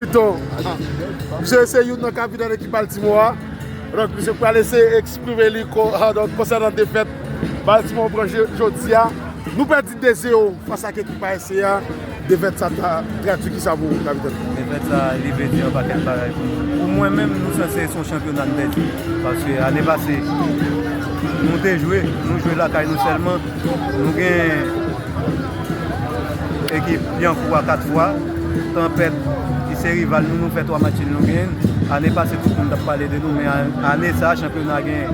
Pito, misye se youn nan kapitan ekip Baltimore a, donk misye pral eseye eksprime li konsènan defèt Baltimore pran jodi a. Nou pèdi 2 zero fas ak ekip ASC a, defèt sa ta tradui kisa pou ou kapitèn? Defèt sa li vle di yon pakèt bagay pou nou. Pou mwen menm nou sanse son chanpyona n pèdi, paske ane pase nou te jwe, nou jwe lakay nou sèlman, nou gen. Ekip Yankou a 4 fwa, Tanpèt ki se rival nou, nou fè 3 match nul nou genyen l. Ane pase tout moun t ap pale de nou men ane sa chanpyona gen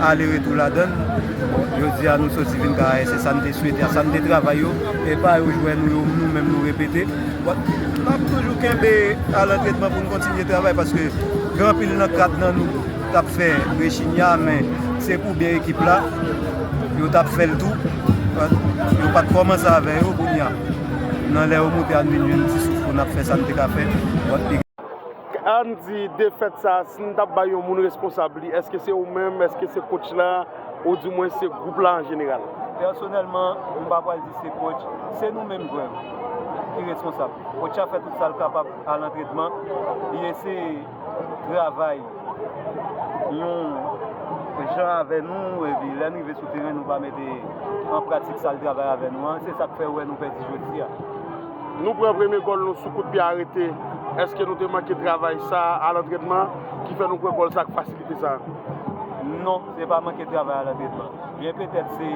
ale retou ladan l. Bon jodi a nou soti vin ka se sa n te swete a sa n te travay yo e pa yo jwè nou yo nou menm nou repete. Bon n ap toujou kenbe al antrenman pou n kontinye travay paske gen anpil nan 4 nan nou tap fè Virginia men se pou byen ekip la yo tap fèl tou yo pat kòmanse avè yo kounya nan lè yo moute ann vin jwenn ti souf pou nap fè sa n te ka fè. Ann di defèt sa si n tap bay yon moun responsab li èske se ou menm èske se coach la ou di mwen se gwoup la an jeneral? Pèsonèlman m pa pral di se coach se nou menm jwè yo ki responsab coach a fè tout sa l kapab al antrenman li eseye. travay yon jan avè nou epi lè n rive sou teren nou pa mete an pratik sa l travay avè nou an se sa k fè ou wè nou pèdi jodi a. Nou pran premye gòl nou sou kout pye arete, èske nou te manke travay sa a lantrenman ki fè nou pran gòl sa ak fasilite sa a? Non, se pa manke travay a lantrenman, byen petèt se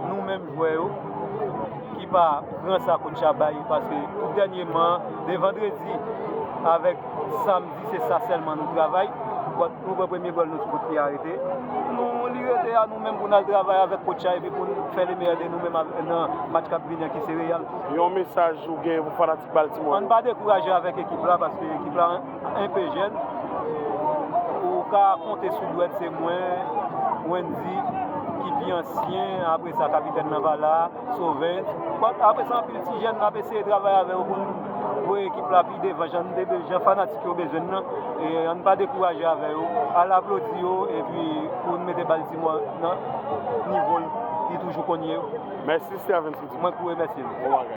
nou menm. jwè yo ki pa pran sa kotch la bay paske tout dènyeman de vandredi avèk samdi se sa sèlman nou travay bòt nou pran premye gòl nou ti kote arete nou li rete a nou menm pou n al travay avèk kotch la epi pou n fè le meyè de nou menm nan match k ap vini an ki se Real. Yon mesaj ou genyen pou fanatik Baltimore yo? Ann pa dekouraje avèk ekip la paske ekip la. Enpe jèn, ou ka konte sou dwèt se mwen, Wendy, ki pi ansyen, apre sa Kapitèn nan pa la, Sauvens. Apre sa anpil ti jèn n ap eseye travay avè yo pou n voye ekip la pi devan jan fanatik yo bezwen n nan. E an n pa dekouraje avè yo, al aplodi yo epi pou n mete Baltimore nan nivo li toujou konn ye. Mèsi Stervens Mwen ki remèsye nou.